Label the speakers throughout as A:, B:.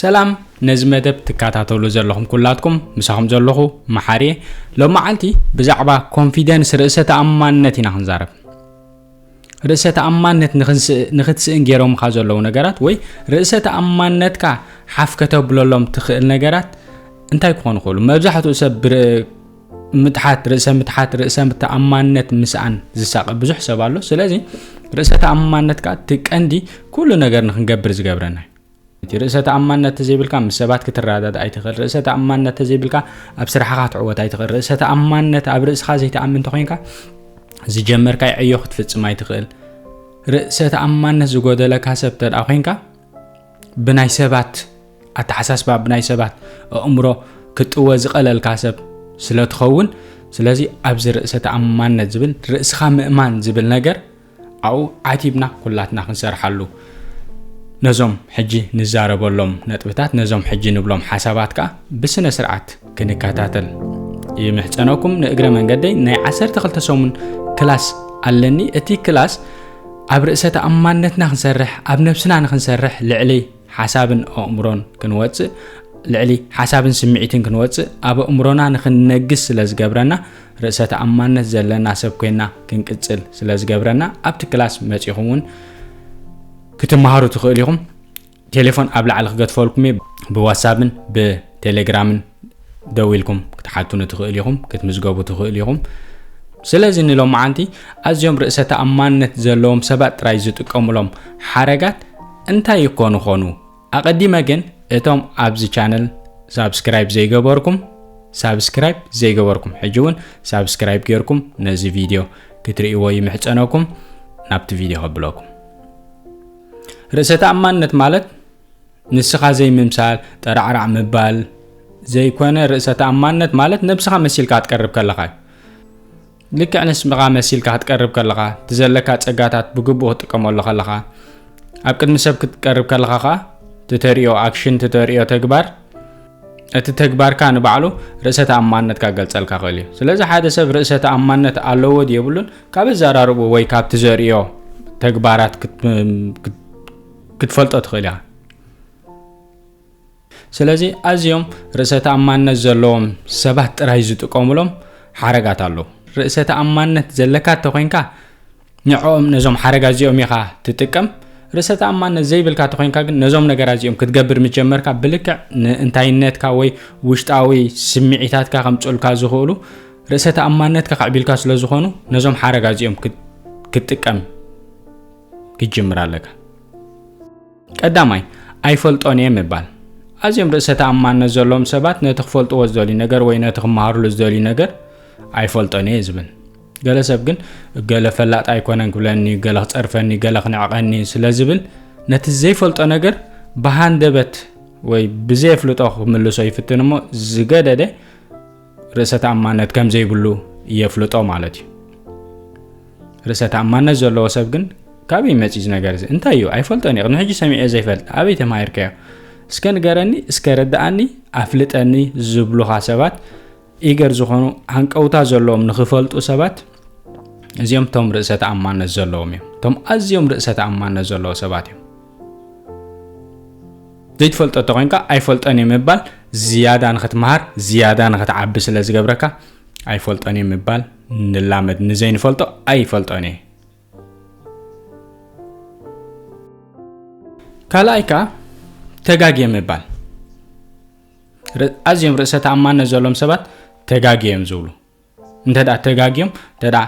A: ሰላም ነዚ መደብ ትከታተሉ ዘለኹም ኩላትኩም ምሳኹም ዘለኹ መሓሪ እየ ሎም መዓልቲ ብዛዕባ ኮንፊደንስ ርእሰ ተኣማንነት ኢና ክንዛረብ ርእሰ ተኣማንነት ንክትስእን ገይሮምካ ዘለዉ ነገራት ወይ ርእሰ ተኣማንነትካ ሓፍ ከተብለሎም ትኽእል ነገራት እንታይ ክኾኑ ይኽእሉ መብዛሕትኡ ሰብ ምትሓት ርእሰ ምትሓት ርእሰ ተኣማንነት ምስኣን ዝሳቐ ብዙሕ ሰብ ኣሎ ስለዚ ርእሰ ተኣማንነት ከዓ እቲ ቀንዲ ኩሉ ነገር ንክንገብር ዝገብረና እቲ ርእሰ ተኣማንነት ተዘይብልካ ምስ ሰባት ክትረዳዳ ኣይትኽእል ርእሰ ተኣማንነት ተዘይብልካ ኣብ ስራሕኻ ክትዕወት ኣይትኽእል ርእሰ ተኣማንነት ኣብ ርእስኻ ዘይተኣምን እንተኮይንካ ዝጀመርካይ ዕዮ ክትፍፅም ኣይትኽእል ርእሰ ተኣማንነት ዝጎደለካ ሰብ ተደኣ ኮንካ ብናይ ሰባት ኣተሓሳስባ ብናይ ሰባት ኣእምሮ ክጥወ ዝቐለልካ ሰብ ስለ ትኸውን ስለዚ ኣብዚ ርእሰ ተኣማንነት ዝብል ርእስኻ ምእማን ዝብል ነገር ኣብኡ ዓቲብና ኩላትና ክንሰርሓሉ ነዞም ሕጂ ንዛረበሎም ነጥብታት ነዞም ሕጂ ንብሎም ሓሳባት ከዓ ብስነ ስርዓት ክንከታተል ይምሕፀነኩም ንእግረ መንገደይ ናይ 12 ሰሙን ክላስ ኣለኒ እቲ ክላስ ኣብ ርእሰ ተኣማንነትና ክንሰርሕ ኣብ ነብስና ንክንሰርሕ ልዕሊ ሓሳብን ኣእምሮን ክንወጽእ ልዕሊ ሓሳብን ስምዒትን ክንወጽእ ኣብ ኣእምሮና ንክንነግስ ስለ ዝገብረና ርእሰ ተኣማንነት ዘለና ሰብ ኮይና ክንቅጽል ስለ ዝገብረና ኣብቲ ክላስ መጺኹም እውን ክትመሃሩ ትኽእሉ ኢኹም ቴሌፎን ኣብ ላዕሊ ክገድፈልኩም እየ ብዋትሳፕን ብቴሌግራምን ደው ኢልኩም ክትሓቱኒ ትኽእል ኢኹም ክትምዝገቡ ትኽእል ኢኹም ስለዚ ንሎማዓንቲ ኣዝዮም ርእሰ ተኣማንነት ዘለዎም ሰባት ጥራይ ዝጥቀሙሎም ሓረጋት እንታይ ይኮኑ ኾኑ ኣቐዲመ ግን እቶም ኣብዚ ቻነል ሳብስክራይብ ዘይገበርኩም ሳብስክራይብ ዘይገበርኩም ሕጂ እውን ሳብስክራይብ ጌርኩም ነዚ ቪድዮ ክትርእይዎ ይምሕፀነኩም ናብቲ ቪድዮ ከብለኩም ርእሰ ተኣማንነት ማለት ንስኻ ዘይምምሳል ጠራዕራዕ ምባል ዘይኮነ ርእሰ ተኣማንነት ማለት ነብስኻ መሲልካ ክትቀርብ ከለኻ እዩ ልክዕ ንስምኻ መሲልካ ክትቀርብ ከለኻ እቲ ዘለካ ጸጋታት ብግቡእ ክትጥቀመሉ ከለኻ ኣብ ቅድሚ ሰብ ክትቀርብ ከለኻ ከዓ ትተሪኦ ኣክሽን ትተሪኦ ተግባር እቲ ተግባርካ ንባዕሉ ርእሰ ተኣማንነትካ ገልጸልካ ክእል እዩ ስለዚ ሓደ ሰብ ርእሰ ተኣማንነት ኣለዎ የብሉን ካብ ኣዘራርቡ ወይ ካብቲ ዘርእዮ ተግባራት ክትፈልጦ ትኽእል ኢኻ ስለዚ ኣዝዮም ርእሰ ተኣማንነት ዘለዎም ሰባት ጥራይ ዝጥቀሙሎም ሓረጋት ኣለዉ ርእሰ ተኣማንነት ዘለካ እተኮይንካ ንዕኦም ነዞም ሓረጋ እዚኦም ኢኻ ትጥቀም ርእሰ ተኣማንነት ዘይብልካ እተኮይንካ ግን ነዞም ነገራት እዚኦም ክትገብር ምጀመርካ ብልክዕ ንእንታይነትካ ወይ ውሽጣዊ ስምዒታትካ ከምፅልካ ዝኽእሉ ርእሰ ተኣማንነትካ ከዕቢልካ ስለ ዝኾኑ ነዞም ሓረጋ እዚኦም ክትጥቀም ክትጅምር ኣለካ። ቀዳማይ፣ ኣይፈልጦን እየ ምባል። ኣዝዮም ርእሰ ተኣማንነት ዘለዎም ሰባት ነቲ ክፈልጥዎ ዝደልዩ ነገር ወይ ነቲ ክመሃርሉ ዝደልዩ ነገር ኣይፈልጦን እየ ዝብል። ገለ ሰብ ግን ገለ ፈላጥ ኣይኮነን ክብለኒ፣ ገለ ክጸርፈኒ፣ ገለ ክንዕቐኒ ስለ ዝብል ነቲ ዘይፈልጦ ነገር ብሃንደበት ወይ ብዘየፍልጦ ክምልሶ ይፍትን እሞ ዝገደደ ርእሰ ተኣማነት ከም ዘይብሉ የፍልጦ ማለት እዩ ርእሰ ተኣማነት ዘለዎ ሰብ ግን ካበይ መፅዩ እዚ ነገር እዚ እንታይ እዩ ኣይፈልጦን እዩ ቅድሚ ሕጂ ሰሚዐ ዘይፈልጥ ኣበይ ተማሂርከዮ እስከ ንገረኒ እስከ ረዳኣኒ ኣፍልጠኒ ዝብሉኻ ሰባት ኢገር ዝኾኑ ሃንቀውታ ዘለዎም ንክፈልጡ ሰባት እዚኦም እቶም ርእሰ ተኣማነት ዘለዎም እዮም እቶም ኣዝዮም ርእሰ ተኣማነት ዘለዎ ሰባት እዮም ዘይትፈልጦ እንተኾይንካ ኣይፈልጦን እየ ምባል ዝያዳ ንኽትመሃር ዝያዳ ንኽትዓቢ ስለ ዝገብረካ ኣይፈልጦን እየ ምባል ንላመድ ንዘይንፈልጦ ኣይፈልጦን እየ ካልኣይ ከዓ ተጋግየ ምባል ኣዝዮም ርእሰ ተኣማንነት ዘሎም ሰባት ተጋግየ እዮም ዝብሉ እንተደኣ ተጋግዮም እንተደኣ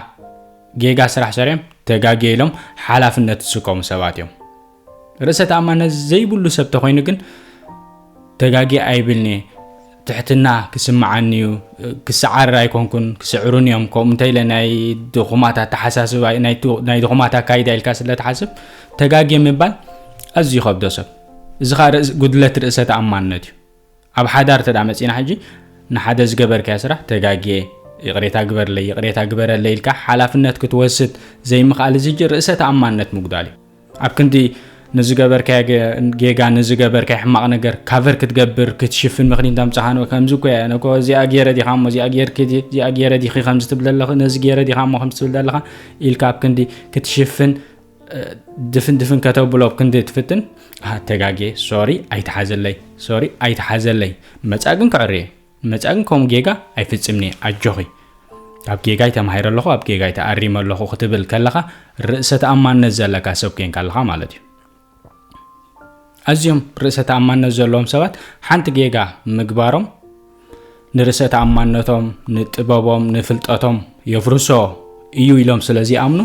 A: ጌጋ ስራሕ ሰሪዮም ተጋግየ ኢሎም ሓላፍነት ዝስከሙ ሰባት እዮም ርእሰ ተኣማነት ዘይብሉ ሰብ ተኮይኑ ግን ተጋግየ ኣይብልኒ ትሕትና ክስምዓኒ እዩ ክሰዓርር ኣይኮንኩን ክስዕሩን እዮም ከምኡ እንተኢለ ናይ ድኹማት ኣተሓሳስባ ናይ ድኹማት ኣካይዳ ኢልካ ስለትሓስብ ተጋግየ ምባል ኣዝዩ ከብዶ ሰብ እዚ ከዓ ጉድለት ርእሰ ተኣማንነት እዩ ኣብ ሓዳር እንተድኣ መጺና ሕጂ ንሓደ ዝገበርካዮ ስራሕ ተጋግየ ይቕሬታ ግበርለይ ይቕሬታ ግበረለይ ኢልካ ሓላፍነት ክትወስድ ዘይምኽኣል እዚ ሕጂ ርእሰ ተኣማንነት ምጉዳል እዩ ኣብ ክንዲ ንዝገበርካዮ ጌጋ ንዝገበርካዮ ሕማቕ ነገር ካቨር ክትገብር ክትሽፍን ምክንያት ኣምጽኻኖ ከምዚ እኮ እያ ነኮ እዚኣ ገይረ ዲኻ እሞ እዚኣ ጌርኪ እዚኣ ገይረ ዲኺ ከምዚ ትብል ዘለኺ ነዚ ገይረ ዲኻ እሞ ከምዚ ትብል ዘለኻ ኢልካ ኣብ ክንዲ ክትሽፍን ድፍን ድፍን ከተብሎ ኣብ ክንዲ ትፍትን ተጋጌ ሶሪ ኣይትሓዘለይ ሶሪ ኣይትሓዘለይ መፃእ ግን ክዕርየ መፃእ ግን ከምኡ ጌጋ ኣይፍፅምኒ ኣጆኺ ኣብ ጌጋይ ተማሂረ ኣለኹ ኣብ ጌጋይ ተኣሪመ ኣለኹ ክትብል ከለኻ ርእሰ ተኣማንነት ዘለካ ሰብ ኮንካ ኣለኻ ማለት እዩ ኣዝዮም ርእሰ ተኣማንነት ዘለዎም ሰባት ሓንቲ ጌጋ ምግባሮም ንርእሰ ተኣማንነቶም፣ ንጥበቦም፣ ንፍልጠቶም የፍርሶ እዩ ኢሎም ስለ ዚኣምኑ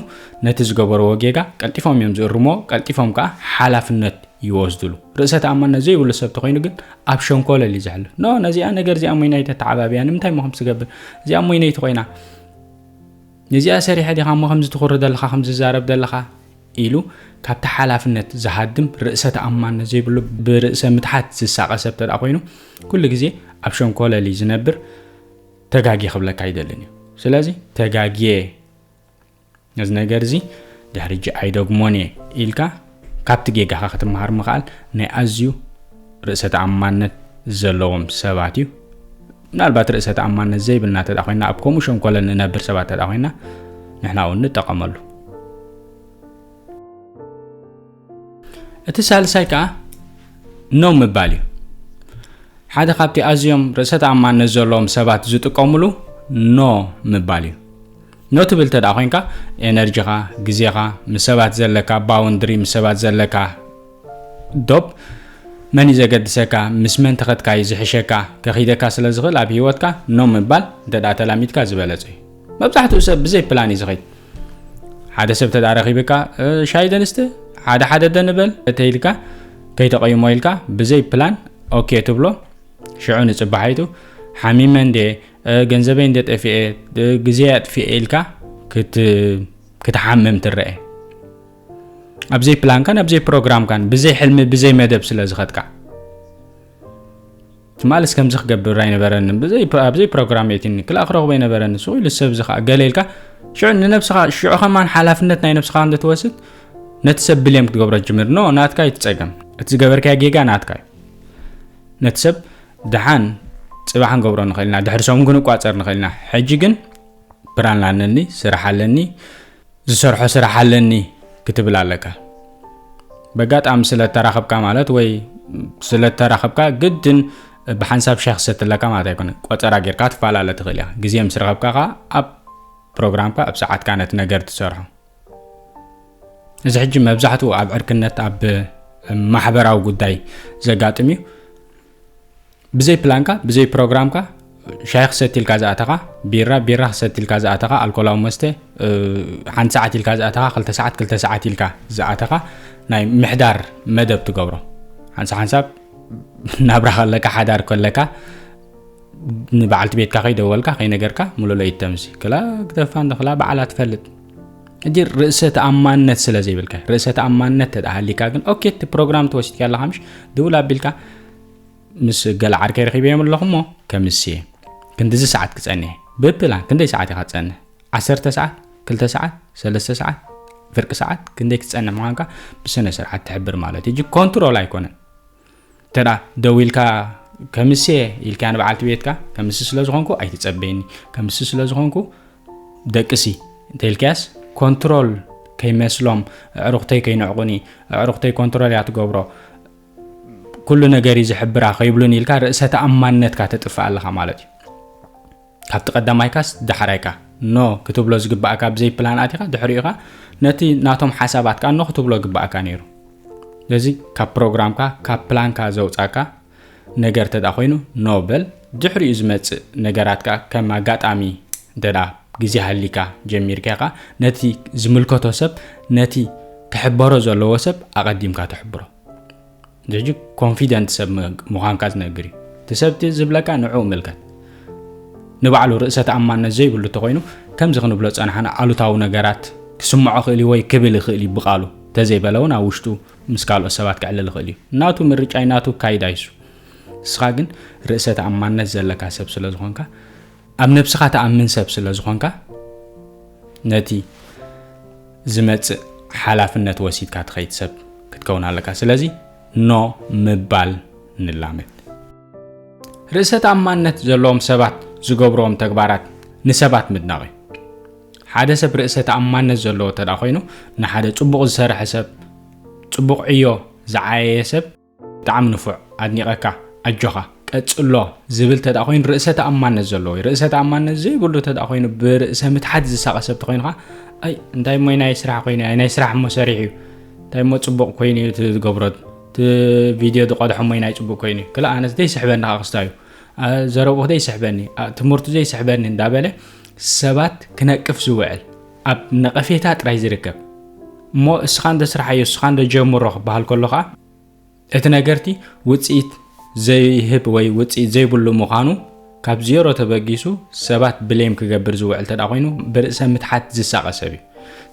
A: ነቲ ዝገበርዎ ጌጋ ቀልጢፎም እዮም ዝእርምዎ፣ ቀልጢፎም ከኣ ሓላፍነት ይወስድሉ። ርእሰ ተኣማንነት ዘይብሉ ሰብ ተኾይኑ ግን ኣብ ሸንኮለል እዩ ዝሕልፍ። ኖ ነዚኣ ነገር እዚኣ ሞይናይ ተተዓባብያ ንምንታይ እሞ ከምዚ ትገብር እዚኣ ሞይነይቲ ኮይና ነዚኣ ሰሪሐ ዲኻ እሞ ከምዚ ትኹሪ ዘለኻ ከምዚ ትዛረብ ዘለኻ ኢሉ ካብቲ ሓላፍነት ዝሃድም ርእሰ ተኣማንነት ዘይብሉ ብርእሰ ምትሓት ዝሳቐ ሰብ ተደኣ ኮይኑ ኩሉ ግዜ ኣብ ሸንኮለሊ ዝነብር ተጋጊ ክብለካ ኣይደልን እዩ ስለዚ ተጋጊየ ነዚ ነገር እዚ ድሕሪ እጂ ኣይደግሞን እየ ኢልካ ካብቲ ጌጋኻ ክትመሃር ምኽኣል ናይ ኣዝዩ ርእሰ ተኣማንነት ዘለዎም ሰባት እዩ ምናልባት ርእሰ ተኣማንነት ዘይብልና ተዳ ኮይና ኣብ ከምኡ ሸንኮለን ንነብር ሰባት ተዳ ኮይና ንሕና እውን ንጠቐመሉ እቲ ሳልሳይ ከዓ ነው ምባል እዩ ሓደ ካብቲ ኣዝዮም ርእሰ ተኣማንነት ዘለዎም ሰባት ዝጥቀምሉ ኖ ምባል እዩ ኖ ትብል እንተ ኮይንካ ኤነርጂኻ ግዜኻ ምስ ሰባት ዘለካ ባውንድሪ ምስ ሰባት ዘለካ ዶብ መን እዩ ዘገድሰካ ምስ መን ተኸትካ እዩ ዝሕሸካ ከኺደካ ስለ ዝኽእል ኣብ ሂወትካ ኖ ምባል እንተ ተላሚድካ ዝበለጸ እዩ መብዛሕትኡ ሰብ ብዘይ ፕላን እዩ ዝኸይድ ሓደ ሰብ ተዳ ረኺብካ ሻይ ደንስቲ ሓደ ሓደ ደንበል ተይልካ ከይተቐይሞ ኢልካ ብዘይ ፕላን ኦኬ ትብሎ ሽዑ ንፅባሒቱ ሓሚመ እንዴ ገንዘበይ እንደ ጠፍኤ ግዜ ኣጥፍኤ ኢልካ ክትሓምም ትረአ ኣብዘይ ፕላንካን ኣብዘይ ፕሮግራምካን ብዘይ ሕልሚ ብዘይ መደብ ስለ ዝኸትካ ትማልስ ከምዚ ክገብር ኣይነበረኒ ኣብዘይ ፕሮግራም የትኒ ክልኣ ክረኽቦ ኣይነበረኒ ስቑ ኢሉ ሰብ እዚ ከዓ ገለ ኢልካ ሽዑ ንነብስኻ ሽዑ ከማን ሓላፍነት ናይ ነብስኻ እንደ ትወስድ ነቲ ሰብ ብልም ክትገብሮ ጅምር ኖ ናትካ ይትፀገም እቲ ዝገበርካዮ ጌጋ ናትካ እዩ ነቲ ሰብ ደሓን ጽባሕ ክንገብሮ ንኽእል ኢና፣ ድሕሪ ሰሙን ክንቋጸር ንኽእል ኢና፣ ሕጂ ግን ፕራን ኣለኒ፣ ስራሕ ኣለኒ፣ ዝሰርሖ ስራሕ ኣለኒ ክትብል ኣለካ። በጋጣሚ ስለተራኸብካ ማለት ወይ ስለተራኸብካ ግድን ብሓንሳብ ሻ ክሰትለካ ማለት ኣይኮነ ቆፀራ ጌርካ ትፈላለ ትኽእል እያ ግዜ ምስ ረኸብካ ከዓ ኣብ ፕሮግራምካ ኣብ ሰዓትካ ነቲ ነገር ትሰርሖ እዚ ሕጂ መብዛሕትኡ ኣብ ዕርክነት ኣብ ማሕበራዊ ጉዳይ ዘጋጥም እዩ ብዘይ ፕላንካ ብዘይ ፕሮግራምካ ሻሂ ክሰቲ ኢልካ ዝኣተኻ ቢራ ቢራ ክሰቲ ኢልካ ዝኣተኻ ኣልኮላዊ መስተ ሓንቲ ሰዓት ኢልካ ዝኣተኻ ክልተ ሰዓት ክልተ ሰዓት ኢልካ ዝኣተኻ ናይ ምሕዳር መደብ ትገብሮ ሓንሳ ሓንሳብ ናብራ ከለካ ሓዳር ከለካ ንበዓልቲ ቤትካ ከይደወልካ ከይነገርካ ሙሉለይት ተምሲ ክላ ክተፋ እንክላ በዓላ ትፈልጥ እጅ ርእሰ ተኣማንነት ስለ ዘይብልካ ርእሰ ተኣማንነት ተተሃሊካ ግን ኦኬ እቲ ፕሮግራም ተወሲድካ ኣለካ ምሽ ድውል ኣቢልካ ምስ ገለ ዓርከ ረኪበዮም ኣለኹ እሞ ከምስ እየ ክንዲዚ ሰዓት ክፀንሕ ብፕላን ክንደይ ሰዓት ኢኻ ትፀንሕ ዓሰርተ ሰዓት ክልተ ሰዓት ሰለስተ ሰዓት ፍርቂ ሰዓት ክንደይ ክትፀንሕ ምዃንካ ብስነ ስርዓት ትሕብር ማለት እዩ ኮንትሮል ኣይኮነን እንተ ደዊልካ ከምስየ ኢልካ ንበዓልቲ ቤትካ ከምስ ስለ ዝኾንኩ ኣይትፀበየኒ ከምስ ስለ ዝኾንኩ ደቅሲ እንተኢልካያስ ኮንትሮል ከይመስሎም ኣዕሩኽተይ ከይንዕቑኒ ኣዕሩኽተይ ኮንትሮል እያ ትገብሮ ኩሉ ነገር እዩ ዝሕብራ ከይብሉን ኢልካ ርእሰ ተኣማንነትካ ተጥፍእ ኣለኻ ማለት እዩ ካብቲ ቀዳማይካስ ዳሕራይካ ኖ ክትብሎ ዝግባእካ ብዘይ ፕላን ኣቲኻ ድሕሪኡ ኸኣ ነቲ ናቶም ሓሳባት ከኣ ኖ ክትብሎ ግባእካ ነይሩ ስለዚ ካብ ፕሮግራምካ ካብ ፕላንካ ዘውፃካ ነገር እንተ ኮይኑ ኖ በል ድሕሪኡ ዝመፅእ ነገራት ከኣ ከም ኣጋጣሚ እንተ ግዜ ሃሊካ ጀሚርካ ከኣ ነቲ ዝምልከቶ ሰብ ነቲ ክሕበሮ ዘለዎ ሰብ ኣቐዲምካ ትሕብሮ ጅጅ ኮንፊደንት ሰብ ምዃንካ ዝነግር እዩ እቲ ሰብቲ ዝብለካ ንዕኡ ምልከት ንባዕሉ ርእሰ ተኣማነት ዘይብሉ እንተኮይኑ ከምዚ ክንብሎ ፀናሕና ኣሉታዊ ነገራት ክስምዖ ክእል እዩ ወይ ክብል ይኽእል እዩ ብቃሉ ተዘይበለ እውን ኣብ ውሽጡ ምስ ካልኦት ሰባት ክዕልል ይኽእል እዩ ናቱ ምርጫይ ናቱ ካይዳ ይሱ ንስኻ ግን ርእሰ ተኣማነት ዘለካ ሰብ ስለ ዝኾንካ ኣብ ነብስኻ ትኣምን ሰብ ስለ ዝኾንካ ነቲ ዝመጽእ ሓላፍነት ወሲድካ ትኸይድ ሰብ ክትከውን ኣለካ። ስለዚ ኖ ምባል ንላመድ። ርእሰ ተኣማንነት ዘለዎም ሰባት ዝገብርዎም ተግባራት ንሰባት ምድናቕ እዩ። ሓደ ሰብ ርእሰ ተኣማንነት ዘለዎ እንተ ኮይኑ ንሓደ ጽቡቕ ዝሰርሐ ሰብ ጽቡቕ ዕዮ ዝዓየየ ሰብ ብጣዕሚ ንፉዕ ኣድኒቐካ ኣጆኻ ቀጽሎ ዝብል ተደኣ ኮይኑ ርእሰ ተኣማነት ዘለዎ እዩ ርእሰ ተኣማነት ዘይብሉ ተደኣ ኮይኑ ብርእሰ ምትሓት ዝሳቐ ሰብ ተኮይንካ ኣይ እንታይ ሞይ ናይ ስራሕ ኮይኑ ኣይ ናይ ስራሕ እሞ ሰሪሕ እዩ እንታይ እሞ ፅቡቕ ኮይኑ እዩ እቲ ዝገብሮ እቲ ቪድዮ ዝቐድሖ እሞ ናይ ፅቡቕ ኮይኑ እዩ ክላ ኣነስ ዘይስሕበኒ ከዓ ክስታ እዩ ዘረብኡ ዘይስሕበኒ ትምህርቱ ዘይስሕበኒ እንዳበለ ሰባት ክነቅፍ ዝውዕል ኣብ ነቐፌታ ጥራይ ዝርከብ እሞ እስኻ እንዶ ስርሓዮ እስኻ እንዶ ጀምሮ ክበሃል ከሎ ከዓ እቲ ነገርቲ ውፅኢት ዘይህብ ወይ ውፅኢት ዘይብሉ ምዃኑ ካብ ዜሮ ተበጊሱ ሰባት ብሌም ክገብር ዝውዕል እንተ ኮይኑ ብርእሰ ምትሓት ዝሳቐ ሰብ እዩ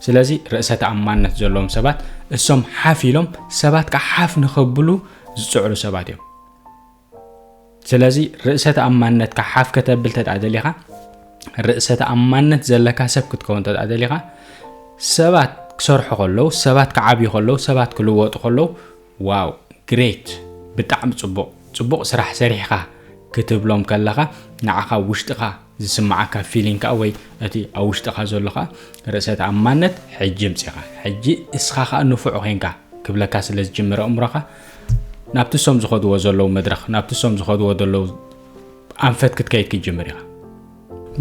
A: ስለዚ ርእሰ ተኣማንነት ዘለዎም ሰባት እሶም ሓፍ ኢሎም ሰባት ከዓ ሓፍ ንኸብሉ ዝፅዕሩ ሰባት እዮም ስለዚ ርእሰ ተኣማንነትካ ሓፍ ከተብል ተጣ ደሊኻ ርእሰ ተኣማንነት ዘለካ ሰብ ክትከውን ተጣ ደሊኻ ሰባት ክሰርሑ ከለዉ ሰባት ክዓብዩ ከለዉ ሰባት ክልወጡ ከለዉ ዋው ግሬት ብጣዕሚ ፅቡቕ ፅቡቕ ስራሕ ሰሪሕኻ ክትብሎም ከለኻ ንዓኻ ውሽጥኻ ዝስምዓካ ፊሊንግ ከዓ ወይ እቲ ኣብ ውሽጥኻ ዘሎ ከዓ ርእሰ ተኣማነት ሕጂ ምፅኻ ሕጂ እስኻ ከዓ ንፉዕ ኮንካ ክብለካ ስለ ዝጅምረ እምሮኻ ናብቲ ሶም ዝኸድዎ ዘለዉ መድረኽ ናብቲ ሶም ዝኸድዎ ዘለዉ ኣንፈት ክትከይድ ክትጅምር ኢኻ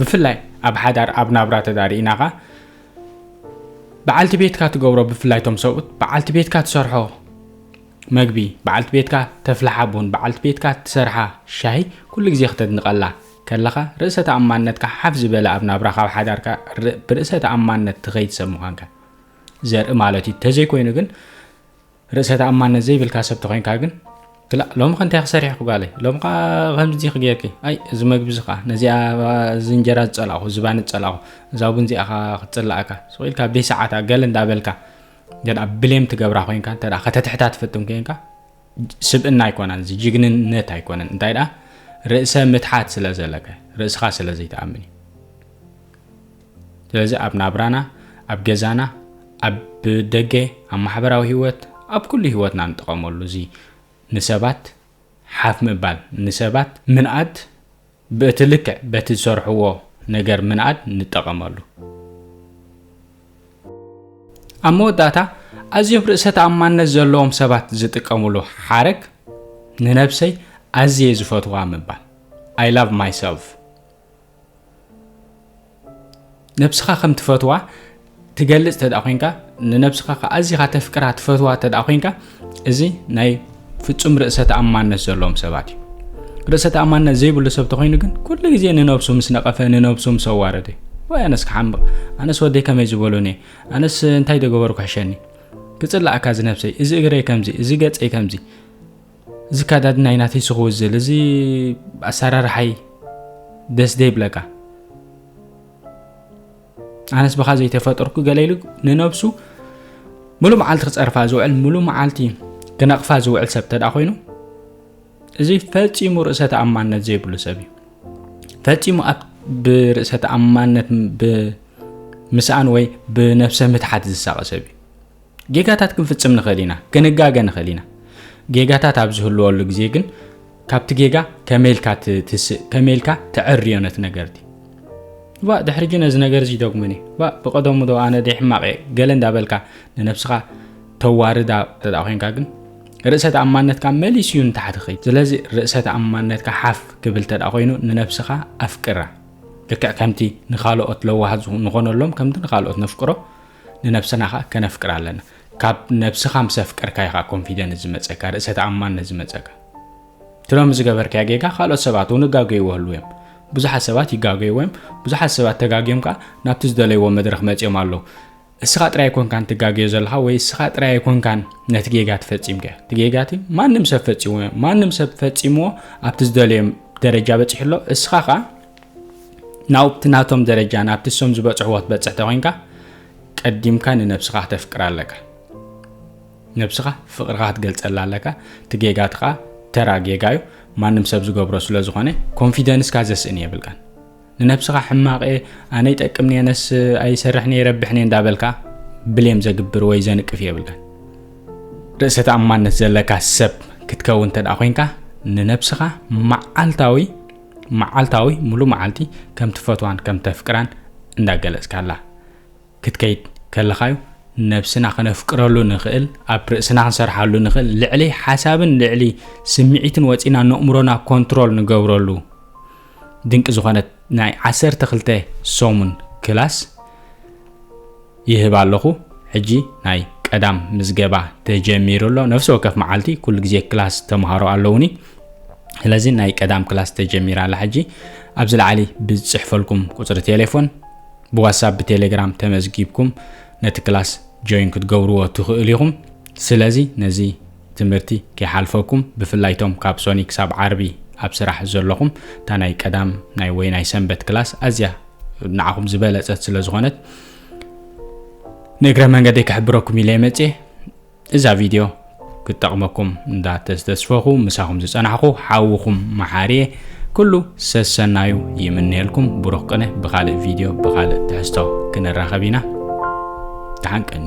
A: ብፍላይ ኣብ ሓዳር ኣብ ናብራ ተዳርኢናኻ በዓልቲ ቤትካ ትገብሮ ብፍላይ ቶም ሰብኡት በዓልቲ ቤትካ ትሰርሖ መግቢ በዓልቲ ቤትካ ተፍልሓ ቡን በዓልቲ ቤትካ ትሰርሓ ሻሂ ኩሉ ግዜ ክተድንቐላ ከለኻ ርእሰ ተኣማንነትካ ሓፍ ዝበለ ኣብ ናብራ ካብ ሓዳርካ ብርእሰ ተኣማንነት ትኸይድ ሰብ ምዃንካ ዘርኢ ማለት እዩ ተዘይኮይኑ ግን ርእሰ ተኣማንነት ዘይብልካ ሰብ ተኾይንካ ግን ክላእ ሎሚ ከ እንታይ ክሰሪሕኩ ጋለይ ሎሚ ከዓ ከምዚ ክጌርኪ ኣይ እዚ መግቢ እዚ ከዓ ነዚኣ እዚ እንጀራ ዝፀላእኹ ዝባኒ ዝፀላእኹ እዛ ቡን እዚኣ ከዓ ክትፅላእካ ስቕ ኢልካ ብሰዓታ ገለ እንዳበልካ እንተ ብሌም ትገብራ ኮንካ እንተ ከተትሕታ ትፍትን ኮንካ ስብእና ኣይኮነን እዚ ጅግንነት ኣይኮነን እንታይ ደኣ ርእሰ ምትሓት ስለ ዘለካ ርእስኻ ስለ ዘይትኣምን እዩ ስለዚ ኣብ ናብራና ኣብ ገዛና ኣብ ደገ ኣብ ማሕበራዊ ህይወት ኣብ ኩሉ ህይወትና ንጥቀመሉ እዚ ንሰባት ሓፍ ምባል ንሰባት ምንኣድ በቲ ልክዕ በቲ ዝሰርሕዎ ነገር ምንኣድ ንጠቐመሉ ኣብ መወዳእታ ኣዝዮም ርእሰ ተኣማንነት ዘለዎም ሰባት ዝጥቀምሉ ሓረግ ንነብሰይ ኣዝየ ዝፈትዋ ምባል ኣይ ላቭ ማይሰልፍ ነብስኻ ከም ትፈትዋ ትገልጽ ተደኣ ኮንካ ንነብስኻ ከዓ ኣዚኻ ተፍቅራ ትፈትዋ ተደኣ ኮንካ እዚ ናይ ፍጹም ርእሰ ተኣማነት ዘለዎም ሰባት እዩ ርእሰ ተኣማነት ዘይብሉ ሰብ ተኮይኑ ግን ኩሉ ግዜ ንነብሱ ምስ ነቐፈ ንነብሱ ምስ ኣዋረደ ወይ ኣነስ ክሓምቕ ኣነስ ወደይ ከመይ ዝበሉኒ ኣነስ እንታይ ደገበሩ ክሕሸኒ ክፅላእካ ዝነብሰይ እዚ እግረይ ከምዚ እዚ ገፀይ ከምዚ እዚ ካዳድናይ ናተይ ስክውዝል እዚ ኣሰራርሓይ ደስ ዘይብለካ ኣነስ ብኻ ዘይተፈጠርኩ ገለ ኢሉ ንነብሱ ሙሉእ መዓልቲ ክፀርፋ ዝውዕል ሙሉእ መዓልቲ ክነቕፋ ዝውዕል ሰብ ተዳ ኮይኑ እዚ ፈፂሙ ርእሰ ተኣማንነት ዘይብሉ ሰብ እዩ ፈፂሙ ኣብ ብርእሰ ተኣማንነት ብምስኣን ወይ ብነብሰ ምትሓት ዝሳቐ ሰብ እዩ ጌጋታት ክንፍጽም ንኽእል ኢና፣ ክንጋገ ንኽእል ኢና። ጌጋታት ኣብ ዝህልወሉ ግዜ ግን ካብቲ ጌጋ ከመይ ኢልካ ትትስእ ከመይ ኢልካ ተዕርዮ ነቲ ነገርቲ ባ ድሕሪ ጂ ነዚ ነገር እዚ ይደግሙኒ ባ ብቀደሙ ዶ ኣነ ደ ሕማቅ እየ ገለ እንዳበልካ ንነብስኻ ተዋርዳ ተዳ ኮንካ ግን ርእሰ ተኣማንነትካ መሊስ እዩ ንታሕቲ ኸይድ ስለዚ ርእሰ ተኣማንነትካ ሓፍ ክብል ተዳ ኮይኑ ንነብስኻ ኣፍቅራ ልክዕ ከምቲ ንካልኦት ለዋሃት ንኾነሎም ከምቲ ንካልኦት ነፍቅሮ ንነብስና ከኣ ከነፍቅራ ኣለና ካብ ነብስካ ምስ ኣፍቀርካ ኢካ ኮንፊደንስ ዝመጸካ ርእሰ ተኣማንነት ዝመጸካ እቲ ሎሚ ዝገበርካዮ ጌጋ ካልኦት ሰባት እውን እጋገይዎ ህልው እዮም ብዙሓት ሰባት ይጋገይዎ እዮም ብዙሓት ሰባት ተጋግዮም ከዓ ናብቲ ዝደለይዎ መድረኽ መፅዮም ኣለዉ እስኻ ጥራይ ኣይኮንካን ትጋገዮ ዘለኻ ወይ እስኻ ጥራይ ኣይኮንካን ነቲ ጌጋ ትፈፂምካ እቲ ጌጋ እቲ ማንም ሰብ ፈፂሞ ማንም ሰብ ፈፂምዎ ኣብቲ ዝደለዮም ደረጃ በፂሑ ኣሎ እስኻ ከዓ ናውቲ ናቶም ደረጃ ናብቲ እሶም ዝበጽሕዎ ትበጽሕ ተኮይንካ ቀዲምካ ንነብስኻ ክተፍቅር ኣለካ ነብስኻ ፍቅርኻ ክትገልጸላ ኣለካ እቲ ጌጋት ኸዓ ተራ ጌጋ እዩ ማንም ሰብ ዝገብሮ ስለ ዝኾነ ኮንፊደንስካ ዘስእን የብልካን ንነብስኻ ሕማቐ ኣነ ይጠቅም ነየነስ ኣይሰርሕ ነየ ይረብሕ ነየ እንዳበልካ ብሌም ዘግብር ወይ ዘንቅፍ የብልካን ርእሰ ተኣማነት ዘለካ ሰብ ክትከውን እንተ ኮንካ ንነብስኻ መዓልታዊ መዓልታዊ ሙሉ መዓልቲ ከም ትፈትዋን ከም ተፍቅራን እንዳገለጽካላ ክትከይድ ከለኻዩ ነብስና ከነፍቅረሉ ንኽእል ኣብ ርእስና ክንሰርሓሉ ንኽእል ልዕሊ ሓሳብን ልዕሊ ስምዒትን ወፂና ነእምሮና ኮንትሮል ንገብረሉ ድንቂ ዝኾነት ናይ ዓሰርተ ክልተ ሰሙን ክላስ ይህብ ኣለኹ ሕጂ ናይ ቀዳም ምዝገባ ተጀሚሩ ኣሎ ነፍሲ ወከፍ መዓልቲ ኩሉ ግዜ ክላስ ተምሃሮ ኣለውኒ ስለዚ ናይ ቀዳም ክላስ ተጀሚራ ኣላ ሕጂ ኣብዚ ላዕሊ ብዝፅሕፈልኩም ቁፅሪ ቴሌፎን ብዋትሳፕ ብቴሌግራም ተመዝጊብኩም ነቲ ክላስ ጆይን ክትገብርዎ ትኽእሉ ኢኹም ስለዚ ነዚ ትምህርቲ ከይሓልፈኩም ብፍላይ ቶም ካብ ሶኒ ክሳብ ዓርቢ ኣብ ስራሕ ዘለኹም እታ ናይ ቀዳም ናይ ወይ ናይ ሰንበት ክላስ ኣዝያ ንዓኹም ዝበለፀት ስለ ዝኾነት ንእግረ መንገደይ ክሕብረኩም ኢለ መፅየ እዛ ቪድዮ ክጠቕመኩም እንዳተስተስፈኹ ምሳኹም ዝፀናሕኹ ሓውኹም መሓርየ ኩሉ ሰሰናዩ ይምነየልኩም ብሩኽ ቅነ ብካልእ ቪድዮ ብካልእ ትሕዝቶ ክንራኸብ ኢና ተሓንቀኒ